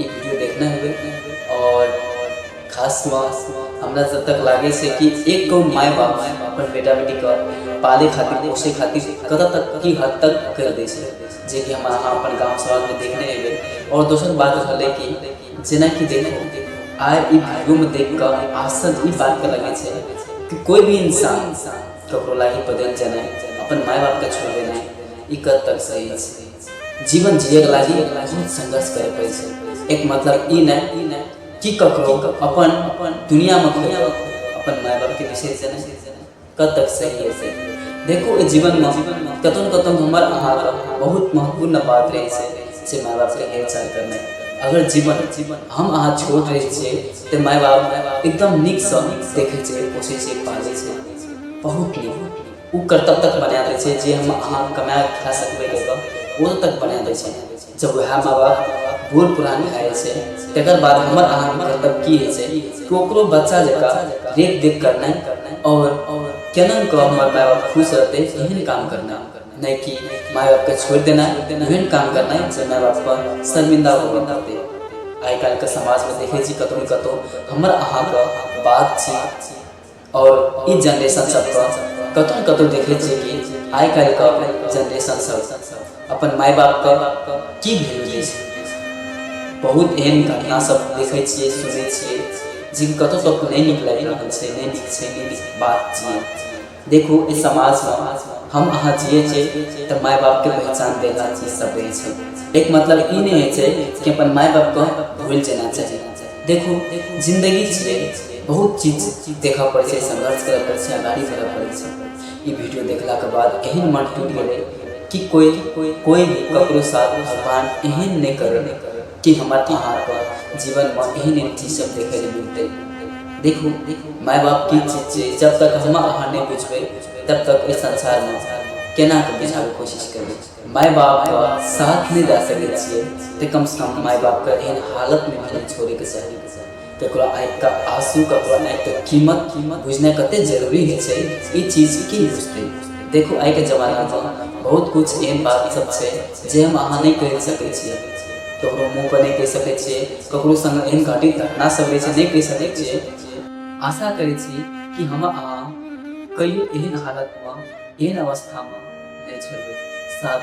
ई video देखने हेबै आओर खासमे हमरा जब तक लागै छै कि एक गो माय बाप अपन बेटा बेटीके पाले खातिर पोसे खातिर कतऽ तक की हद तक कर दै छै जे कि हम अहाँ अपन गाँव समाजमे देखने हेबै आओर दोसर बात रहलै कि जेनाकि देखो आइ ई वीडियोमे देख कऽ आश्चर्य ई बातके लगै छै कि कोई भी इंसान ककरो लागी बदलि जेनाइ अपन माय बापके छोड़ि देनाइ ई कद तक सही छै जीवन जिए के लागी बहुत संघर्ष करे पड़े छै एक मतलब ई नहि कि ककरो अपन अपन दुनिया में खोया अपन माय बाप के विषय से नहीं कब तक सही है से देखो ए जीवन में कतौ न कतौ हमर अहाँ के बहुत महत्वपूर्ण बात रहे छै से माय बाप के हेरचाह करना अगर जीवन जीवन हम अहाँ छोट रहे छिए तो माय बाप एकदम नीक से देखे छै पोषे छै पाले छै बहुत नीक ओ कर्तव्य तक बना दै छै जे हम अहाँ कमाए कऽ खाए सकबै कए कऽ ओ तक बना दै छै जब ओहए माँ बाप बूढ़ पुरान भए जाइ छै तकर बाद हमर अहाँ कर्तव्य की होइ छै कि ओकरो बच्चा जकाँ रेख देख करनाइ आओर केना कऽ हमर माय बाप खुश रहतै एहन काम करना नहि कि माय बापके छोड़ि देना एहन काम करना जे माय बाप पर शर्मिंदा होबऽ पड़तै आइ काल्हिके समाजमे देखै छी कतहु ने कतहु हमर अहाँके बातचीत आओर ई जनरेशन सबके कतौ ने कतौ देखै छियै कि आइ काल्हि के जनरेशन सब अपन माय बाप के की भेल दै छै बहुत एहन घटना सब देखै छियै सुनै छियै जे कतौ कतौ नहि नीक लागि रहल छै नहि नीक छै नहि नीक बात छियै देखू ई समाजमे हम अहाँ जियै छियै तऽ माय बापके पहचान देना चीज सब रहै छै एक मतलब ई नहि होइ छै कि अपन माय बापके भूल जेना चाही देखू जिन्दगी छै बहुत चीज देखऽ पड़ै छै संघर्ष करऽ पड़ै छै अगाड़ी बढ़ऽ पड़ै छै ई वीडियो देखलाके बाद एहन मन टूटि गेलै कि कोइ कोइ कोइ भी ककरो साथ भगवान एहन नहि करै कि हमर अहाँके जीवनमे एहन एहन चीज सब देखै लए मिलतै देखू माय बाप की चीज छै जब तक हम अहाँ नहि बुझबै तब तक एहि संसारमे केना कऽ बुझाबैके कोशिश करबै माय बाप का साथ नहीं जा सके छे ते कम से कम माय बाप का एहन हालत में नहीं छोड़े के चाहिए ककरो आँख का आंसू ककरो आँख का कीमत कीमत बुझना कते जरूरी है छे ई चीज की बुझते देखो आइ के जमाना में बहुत कुछ एहन बात सब छे जे हम अहाँ नहीं कह सके छे ककरो मुंह पर नहीं कह सके छे ककरो संग एहन घाटी घटना सब रहे छे नहीं कह सके छे आशा करे छी कि हम अहाँ कहियो एहन हालतमे एहन अवस्थामे नहि छलहुँ साफ